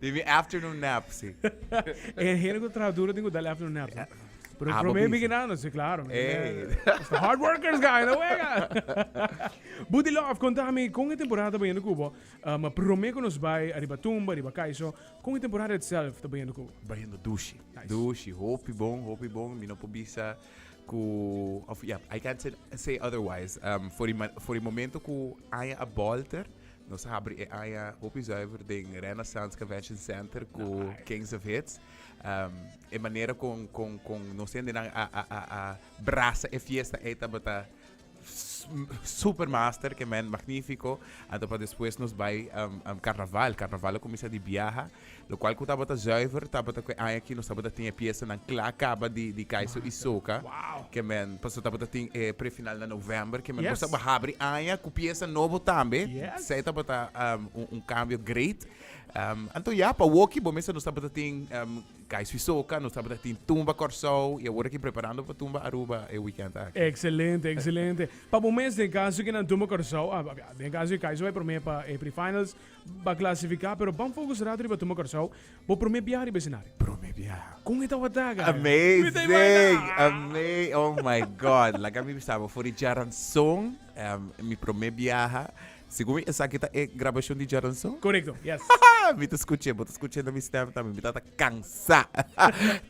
Di mi afternoon nap, si. E hende ku traha duro tin ku dal e afternoon nap, si. Pero Abo promé bisa. biginando, si klaro. Mi Ey. hende ta hard workers ka, e no wega. Buti Love, konta mi kon e temporada ta bayendo kubo. Um, promé ku nos bai ariba tumba, ariba kai so. Kon e temporada itself ta bayendo kubo? Bayendo dushi. Nice. Dushi, hopi bon, hopi bon. Mi no por bisa ku, of ya, I can't say, say otherwise. Um, for di ma, for di momento ku aña a bolter, Nos abri e aña hopi zuiver den Renaissance Convention Center cu Kings of Hits. Um, e manera con, con, con nos hendenan a, a, a, a brasa e fiesta ei tabata supermaster que men magnífico anto pa después nos bai um, um, carnaval carnaval a comienza di biaha Lokual ku tabata zuiver tabata ku e aña aki nos tabata tin e piesanan kla kaba di di Kaiso i Soca. Ke men paso tabata tin e prefinal na novèmber ke men nos tabata habri aña ku piesa nobo tambe. Esei tabata un un kambio great. Anto ya pa woki bo mester nos tabata tin Kaiso i Soca, nos tabata tin Tumba Kòrsou i awor aki preparando pa Tumba Aruba e wikènt aki. Ekselente, ekselente. Pa bo mes den kaso ke nan Tumba Kòrsou, den kaso di Kaiso bai promé pa e prefinals, Ba klasifiká, pero ban fokus ratu riba Tuma Kòrsou, bo promé biaha riba esenario. Promé biaha. Kon e tabata, Gary? Amazing! Ama oh my God! Like mi bisa bo for di Djaranson, um, mi promé biaha. Segun mi esaki ta e grabashon di Djaranson? Korekto, yes. Mi ta skuch'é, bo ta skuch'é na mi stèm tambe. Mi ta ta. Cansá,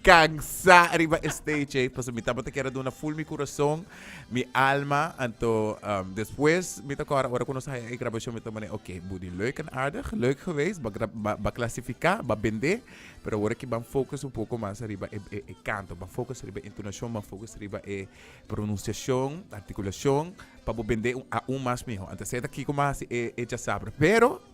cansá riba e stage ey, pasobra mi tabata kier a duna full mi curason, mi alma, anto despues mi ta cora ora cu nos a haya e grabacion mi ta mane ok, Buddy leuk en aardig, leuk geweest, ba grab, ba clasifica, ba bende, pero awor aki ban focus un poco mas riba e, e, e canto, ban focus riba e entonacion, ban focus riba e pronunciacion, articulacion, pa bo bende aun mas miho, anto esey ta kico mi a haci e, e djasabra, pero.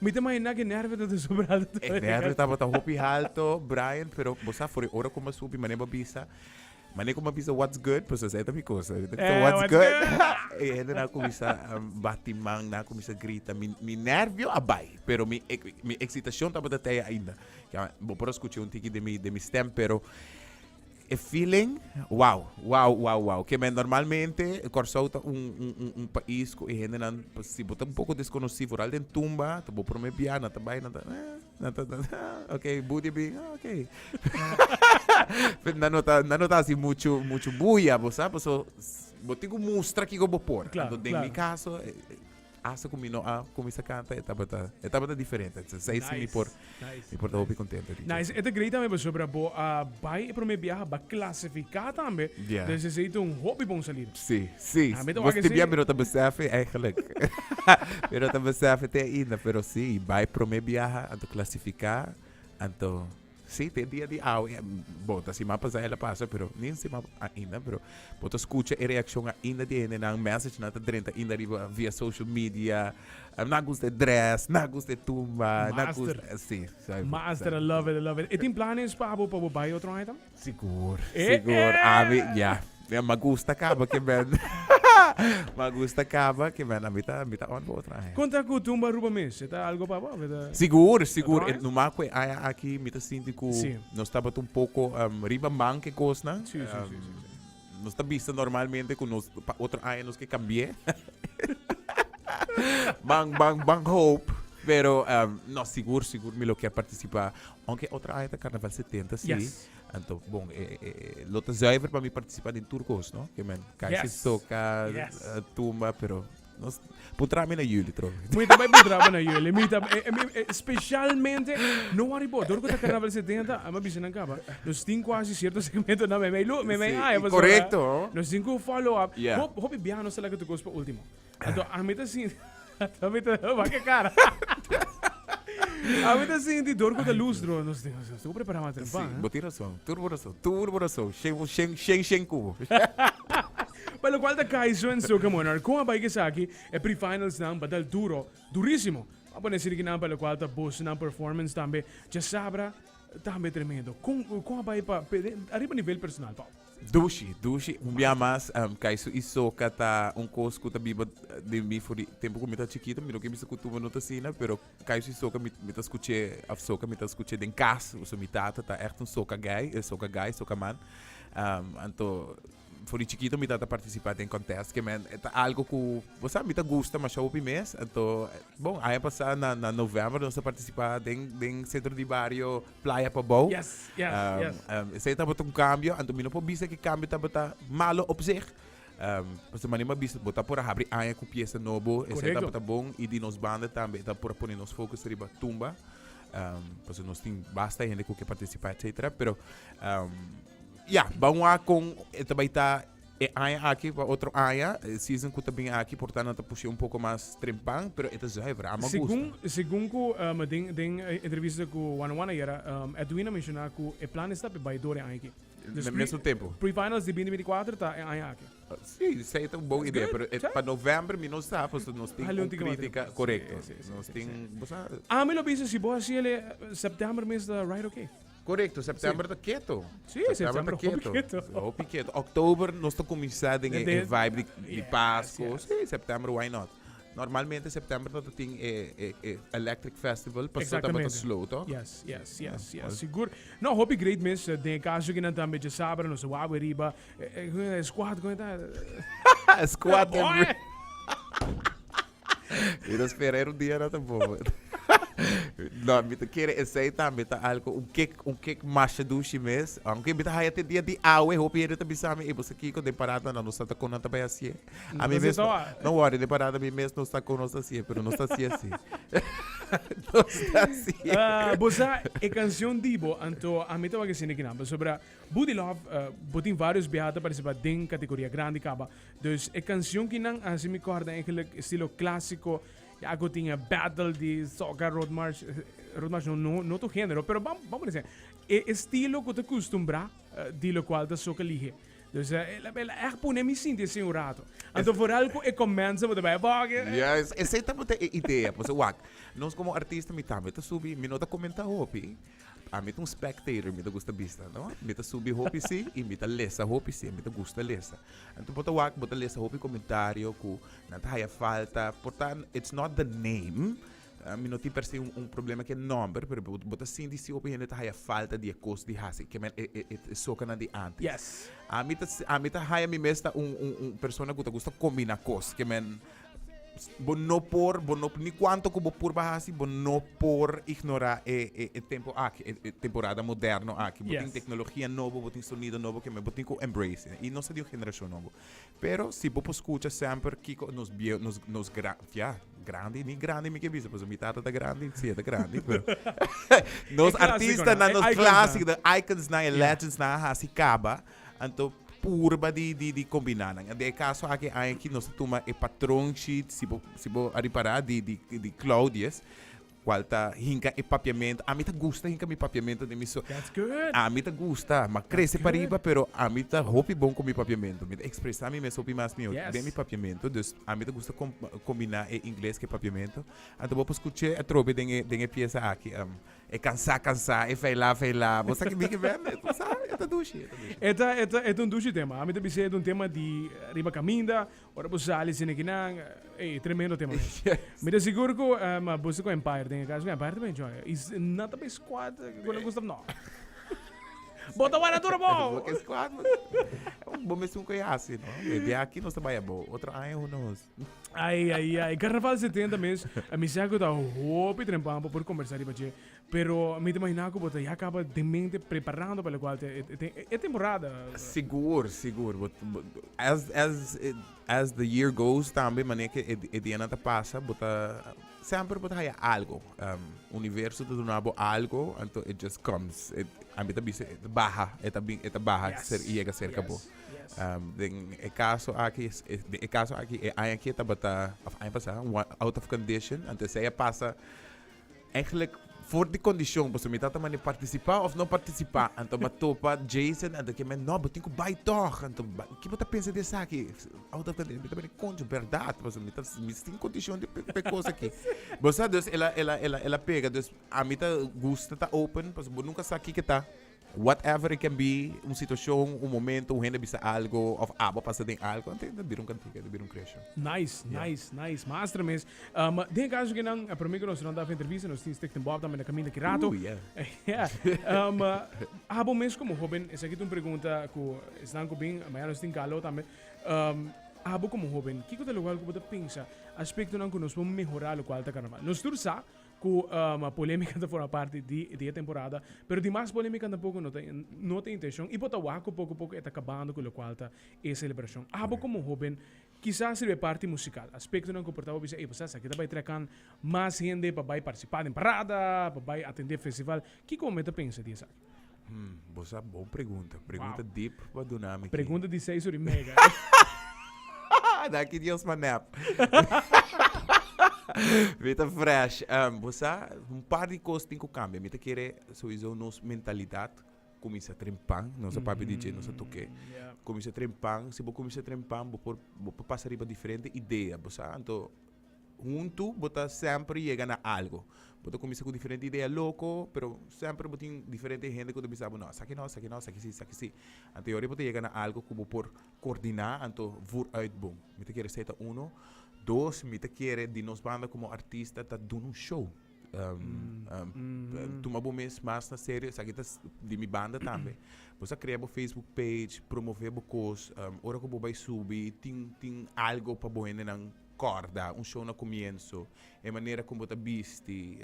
Mi ta mahiná ki nèrve ta desobrado tur. E nèrve tabata hopi halto, Brian, pero bo sa for e ora ku m'a subi, manera bo a bisa, manera ku m'a bisa what's good, pues esei ta mi kosa, mi ta kito what's good, e hende nan a kuminsá bati man, nan a kuminsá grita, mi mi nèrvio a bai, pero mi mi eksitashon tabata tei ainda, bo por a skucha un tiki den mi den mi stèm, pero. E feeling, wow, wow, wow, wow. Que men normalmente Corsou ta un, un, un, un país cu e gente nan, si bo ta un poco desconocido, vooral den tumba, ta bo primer bia, na ta bai, na ta, eh, na ta, na ta, ah, ok, booty big, ah, ok. Pero na no ta, na no ta así mucho, mucho bulla, bo sab, paso, s- bo tin cu mustra kico bo por. Claro, Anto den mi claro. caso, eh, eh, Hasta cu mi no a cuminsa canta e tabata e tabata diferente. Entonces ahí sí mi por Nice, mi por ta hopi contento e dicha. Nice, e ta great tambe pasobra bo a bai e prome biaha, a bai clasifica tambe. Yeah. Entonces esey ta un hopi bon salida. Sí, sí. Ah, mi ta Mos wak tin esey. bia mi no ta besefi eigenlijk. mi no ta besefi te ainda, pero sí, bai prome biaha, anto clasifica, anto Sí, te dia di awe e bo ta sima pasa el a pasa pero nin sima ainda pero bo ta escucha e reaccion ainda di hendenan message na ta drenta ainda riba via social media um, na gusta e dress na gusta e tumba na Master. gusta sí sabi Master, I sabi love it, I love it. E tin planes pa bo pa bo bai otro aña tam? sigur Eh, sigur eh. abi ya Mira ma gusta caba que men ma gusta caba que men a mi ta a mi ta on pa otro aña. Con ta cu tumba Aruba mes? E ta algo pa bo of e ta. Sigur, sigur. E numa cu e aña aki mi ta sinti cu Sí. nos tabata un poco em, riba man cu e cosnan. Sí, sí, sí, sí, sí. Em, nos ta bisa normalmente cu nos pa otro aña nos ke cambi'e. Ban, ban, ban hoop. Pero em, no, sigur, sigur mi lo kier participa. Aunke otro aña ta Carnaval 70, sí. Yes. Anto, bon, e, e, e, lo ta zuiver pa mi participa den tur cos, no? Que men, kai yes. se soca, yes. uh, tumba, pero Nos, puntra mi na jullie tro. Moet também puntra mi na jullie. Mi tam, eh, mi, eh, specialmente no arribo. Dor kota carnaval 70, ama bisa nan kaba. Nos tin quasi cierto segmento na me me lu, me me ah, Correcto. Nos tin ku follow up. Yeah. Hop, hopi biaha nos la que tu cos pa último. Anto ami ta sinti ami ta wak e kara. ami ta sinti dor ku ta lustro. Nos tin nos tin ku prepara mata tempa. Sí, bo tin rason. Tur bo rason. Tur bo rason. Shen bo shen shen shen kubo. Pa lo kual ta Kaiso en Soca Monarch kon a bai ku esaki e pre-finalsnan ba dal duro, durísimo. Bo a pone esiri kinan pa lo kual ta Bosnan performance tambe dja sabra tambe tremendo. Kon kon a bai pa ariba nivel personal, Paul? Dushi, dushi, un bia mas kai su i soka ta un kos ku ta biba den mi for di tempu ku mi ta chikito, mi no ke bisa ku tuba no ta asina, pero kai su i soka mi mi ta skuch'é a soka, mi ta skuch'é den kas, also mi tata ta ègt un soka gay, soka gay, soka man, anto for di chikito mi tata partisipá den kòntèst, ke men e ta algu ku bo sa mi ta gusta masha hopi mes, anto bon aña pasá na na novèmber nos a partisipá den den sentro di bario. playa pa bou. Yes, yes, um, yes. Um, ese tabata un cambio, anto mino por bisa que cambio tabata malo op zich. Um, pues mani ma bisa, bota por habri aña cu pieza nobo, ese tabata bon, y di nos banda también, ta por poner nos focus riba tumba. Um, pues nos tin basta gente cu que participa, etcétera, pero um, ya, yeah, vamos a con, esta baita E aña aki, pa otro aña, e season ku ta bini aki por ta nan ta push'é un poko mas trempan, pero e ta zuiver, a me gusta. Segun, segun ku um, den, den e entrevista ku Wana Wana ayera, um, Edwin a menshoná ku e plan esta pa e bai dor e aña aki. Dus Mes, mesmo tempo. pre, pre-finals di binti binti kuater ta e aña aki. Sí, esei ta un bon idea, pero e, pa novèmber mi no sa, pasobra nos tin Hali un un tigma krítika, tempo. korekto. Sí, sí, sí, Nos sí, tin, sí. bo sa, Ami lo bisa si bo hasiel e, septèmber mes ta right okay. Correcto, september ta keto. Sí, september ta keto. Hopi keto. Oktober nos ta cominciar den e vibe di Pasco. Sí, september why not? Normalmente september ta tin e, e, e Electric Festival, pa september ta slow, to? Yes, yes, yes, yes. Sigur. No, hopi great miss, eh, den caso que nan ta beetje sabra, nos wawe riba, eh, eh, squad, como está? squad. Mi ta spera e rudia na ta bobo. no, mi ta kere esei tambe ta algo un kek, un kek masha dushi mes. Aunque mi ta haya te dia di awe, hopi hende ta bisa mi, e bosa kiko den parada na nos ta kon nan ta bai hasié. A mi mes, no worry, den parada mi mes nos ta kon nos ta hasié, pero nos ta hasié si. nos ta hasié. Ah, bo sa e canción di bo, anto a mi tabata sin de kinampel. Sobra Buddy Love, bo tin varios biaha ta participa den categoria grandi caba. Dus e canción ki nan haci mi corda eigenlijk estilo clásico ya cu tin e battle di soca road march road march no no no tu género pero bam bam por e estilo cu ta custumbrá di lo cual ta soca lihe dus el el a echt pone mi sinti así un rato anto vooral cu e comments bo ta bay boke yes esey tabata e idea pues wak nos como artista mi tambe ta subi mi no ta comenta hopi. Ami ta un spectator, mi ta gusta bista, no? Mi ta subi hopi si i mi ta lesa hopi si, mi ta gusta lesa. Anto bo ta wak, bo ta lesa hopi komentario ku nan ta haya falta, portan it's not the name, ah, mi no tin per se un, un problema ku e nòmber, pero bo, bo ta sinti si hopi hende ta haya falta di e kos di hasi, ke men e, e, e, e sokanan di antes. Yes. Ami ta, si- ami ta haya mi mes ta un, un, un persona ku ta gusta kombina kos, ke men bo no por bo no ni cuanto cu bo purba hasi bo no por ignora e e e tempo aki e e temporada moderno aki bo tin Yes. tecnologia nobo bo tin sonido nobo keme bo tin cu embrace i no sa di un generacion nobo pero si bo por scucha semper kico nos bieu nos nos gran ya grandi ni grandi mi ke bisa pasobra mi tata ta grandi si e ta grandi pero nos E clásiconan, artistanan e nos iconsnan. clasicnan iconsnan e legends nan a hasi caba Anto purba di di di kombiná nan. De e kaso aki e aña aki nos a tuma e patron sheet, si bo si bo a ripará, di di di Claudius, kual ta hinka e papiamentu. Ami ta gusta hinka mi papiamentu di mi so. That's good. Ami ta gusta, m'a krese That's pariba, good. pero ami ta hopi bon ku mi papiamentu. Mi ta ekspresá mi mes hopi mas mihó Yes. den mi papiamentu, dus ami ta gusta kom- kombiná e ingles ku e papiamentu. Anto bo por skuch'é atrobe den e den e piesa aki. Um, E cansá, cansá, e feilá, feilá. Bo sa kibi ki bende e pasá? E ta dushi, e ta dushi. E ta, e ta, e ta un dushi tema. Ami ta bisa e ta un tema di riba caminda, ora bo sali sin e kinan. Ey, e tremendo tema mi. Yes. Mi ta sigur cu, um, bo sta cu Empire den e cas, cu Empire ta bay enjoy. Y s- nan ta bay squad cu nan Gustav, no. Bo ta wara duro, bo! Bo ke squad, bo. Bo mes un cu e hasi, no. Maybe aki nos ta bay abo. Otro aña, who knows. Ai, ai, ai. Carnaval 70 mes. A mi sa cu ta hopi trempan pa por conversa riba je. Pero mi te imagina cu bota ya caba de mente preparando pa lo cual te e temporada. Sigur, sigur. But, but as as it as the year goes tambe mane ke e dianan ta pasa bota semper bo ta haya algo. Um universo ta duna bo algo anto it just comes. It a mi ta bisa baha e ta bin e ta baha ser yega cerca bo. Den e kaso aki, den e kaso aki e aña ke tabata, òf aña pasá, out of condition, anto esei a pasa eigenlijk for di kondishon, pasobra mi tata manda mi partisipá òf no partisipá. Anto bo a topa Jason, anto ke men, no, bo tin ku bai tòg, anto bai. Ke bo ta pensa di esaki? Out of condition, mi ta mira, koncho, bèrdat, pasobra mi ta mi sin kondishon di pe kos aki. Bo sa, dus el a el a el a el a pega, dus ami ta gusta ta open, pasobra bo nunka sa kiko ta. Whatever it can be, un situacion, un momento, un hende a bisa algo of abo a pasa den algo, anto ta bira un cantica, ta bira un creacion. Nice, nice, nice. Mas tra mes. Um, den e caso kinan, a primer cu nos nan ta af entrevista, nos tin Stichting Bob tambe na caminda ki rato. Ooh, yeah. Yeah. Um, abo mes como hoben, esaki ta un pregunta cu esnan cu bin, maya nos tin Carlo tambe. Um, abo como hoben, kico ta locual cu bo ta pensa aspectonan cu nos por mehora locual ta Carnaval? Nos tur sa, Cu polemica ta forma parti di e temporada, pero di mas polemica tampoco no ta intencion y bo ta wak cu poco poco e ta cabando cu locual ta e celebracion. Abo como hoben kisas riba e parti musical, aspectonan cu por ta bo bisa, ey, bo sa esaki ta bay trakan mas hende pa bay participa den parada, pa bay atende festival, kico bo me ta pensa di esaki? Hmm, bos a bon pregunta. Pregunta wow. deep pa duna mi. Pregunta di seis uri mega. Daki Dios pa nap. Vita fresh. Um, bos a un par di cos tin ku cambia. Mita kere sowieso nos mentalidad comienza trempan, nos mm -hmm. papi DJ nos toque. Yeah. Comienza trempan, si bo comienza trempan, bo por bo por pasa riba diferente idea, bo sa anto Huntu bo ta semper yega na algo. Bo ta kuminsá ku diferente idea loko, pero semper bo tin diferente hende ku ta bisa bo, no, esaki no, esaki no, esaki sí, esaki sí. Anto yori bo ta yega na algo ku bo por kordiná, anto vùr uit bon. Mi ta kere esei ta uno. Dos, mi ta kere di nos banda komo artista ta duna un show. Tuma bo mes mas na serio, esaki ta di mi banda tambe. Bo sa krea bo facebook page, promové bo kos, ora ku bo bai subi tin tin algo pa bo hendenan. Kòrda, un shou na kumiensu, e manera ku bo ta bisti,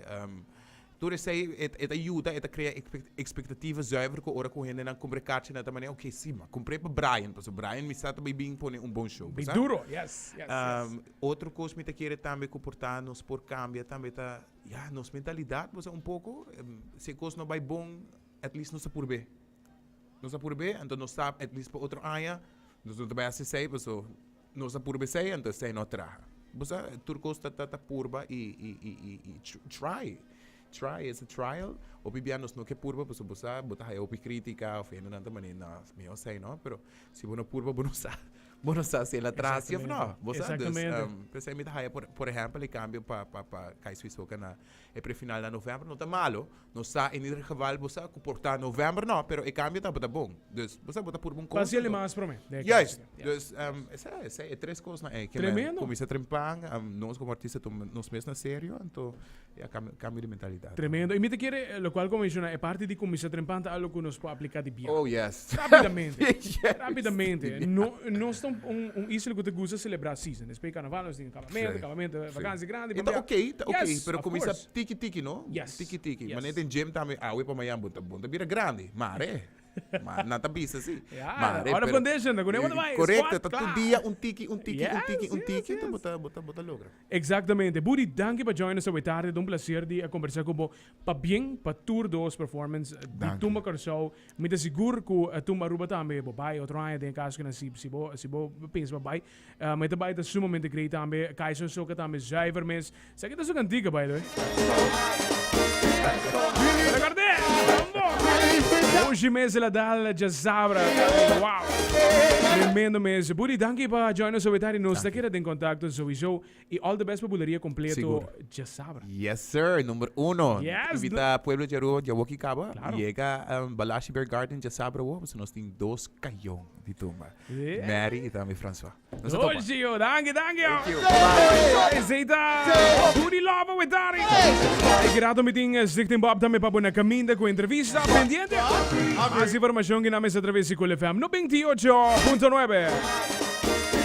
tur esei e ta yuda, e ta krea ekspektativa zùiver ku ora ku hendenan kumpr'e kachi nan ta manera, ok, si, m'a kumpr'e pa Brian, pasobra Brian mi sa ta bai bin pone un bon shou. Bai duro, yes, yes, yes. Otro kos mi ta kere tambe ku por ta nos por kambia tambe ta, ya, nos mentalidat boso un poko, si e kos no bai bon at least nos a purb'é, nos a purb'é, anto nos sa at least pa otro aña nos no ta bai hasi esei paso. Nos a purba esei, anto esei no a traha. Bo sa, tur kos ta ta ta purba i i try, try, es a trial. Hopi bia nos no ke purba pasobra bo sa bo ta haya hopi kritika òf hendenan ta mane nò, es mihó esei nò. Pero si bo no purba bo no sa, bo no sa si el a traha si òf nò, bo sa. Dus, p'esei mi ta haya, por ehèmpel, e kambio pa pa pa Kai Swisoka na E prefinal na novèmber no ta malu. Nos sa en ieder geval bo sa ku por ta novèmber nò, pero e kambio tabata bon. Dus, bo sa bo ta purba un kos. Fasi el di mas promé. Juist. Dus, esei, esei e tres kosnan ei. Tremendo. Kuminsá trempa, nos komo artista tuma nos mes na serio, anto ya kambio kambio di mentalidat. Tremendo. I mi ta kere lokual ku menshona, e parti di kuminsá trempa ta algu ku nos por apliká di bia. Oh, yes. Rapidamente. Rapidamente. No, nos ta un un isla ku ta gusta selebrá season. Despoi Karnaval nos tin. Vacante, campamento, e vakantie grandi. E ta ok, ta ok, pero cuminsa tiki tiki no, tiki tiki. Mane e tin gym tambe, awe pa mañan bo ta bira grandi, mare, mare, nan ta bisa si. Mare, pero. Ora condition, ta cu ne'e bo ta bai, squat, claro. Correcto, ta tur dia un tiki, un tiki, un tiki, un tiki, ta bo ta, bo ta, bo ta logra. Exactamente. Buddy, danki pa join nos awe tarde, ta un placer di a conversa cu bo, pa bien, pa tur dos performance di Tumba Curaçao. Mi ta sigur cu Tumba Aruba tambe, bo bai otro aña den e caso cu nan si, si bo, si bo pensa pa bai, Um e ta bai ta sumamente great tambe. Kaison soca tambe zuiver mes. Saki ta su cantica by the way. Pero cordé, mambo. Oshi mes la dal dja sabra. Wow. Tremendo mes. Budi danki pa join nos so e tardi. Nos ta keda den contacto souizo. Y all the best pa Buleria completo Sigur. dje sabra. Yes sir, number uno. Yes, Invita bla- pueblo dje Aruba dje woki caba. Claro. Yega um, Balashi Bear Garden dje sabra wo, pasobra nos tin dos cayon di tumba. Yeah. Mary y tambe Francois. Nos a topa. Doshi yo, danki, danki yo. Thank you. Bye-bye. Ey, Zeta, Booty Lava with Dari. E grato mi tin eh, Zichting Bob tambe pa bo na caminda cu entrevista. Pendiente. Mas informacion gina mes a traves di Cool FM 98.9.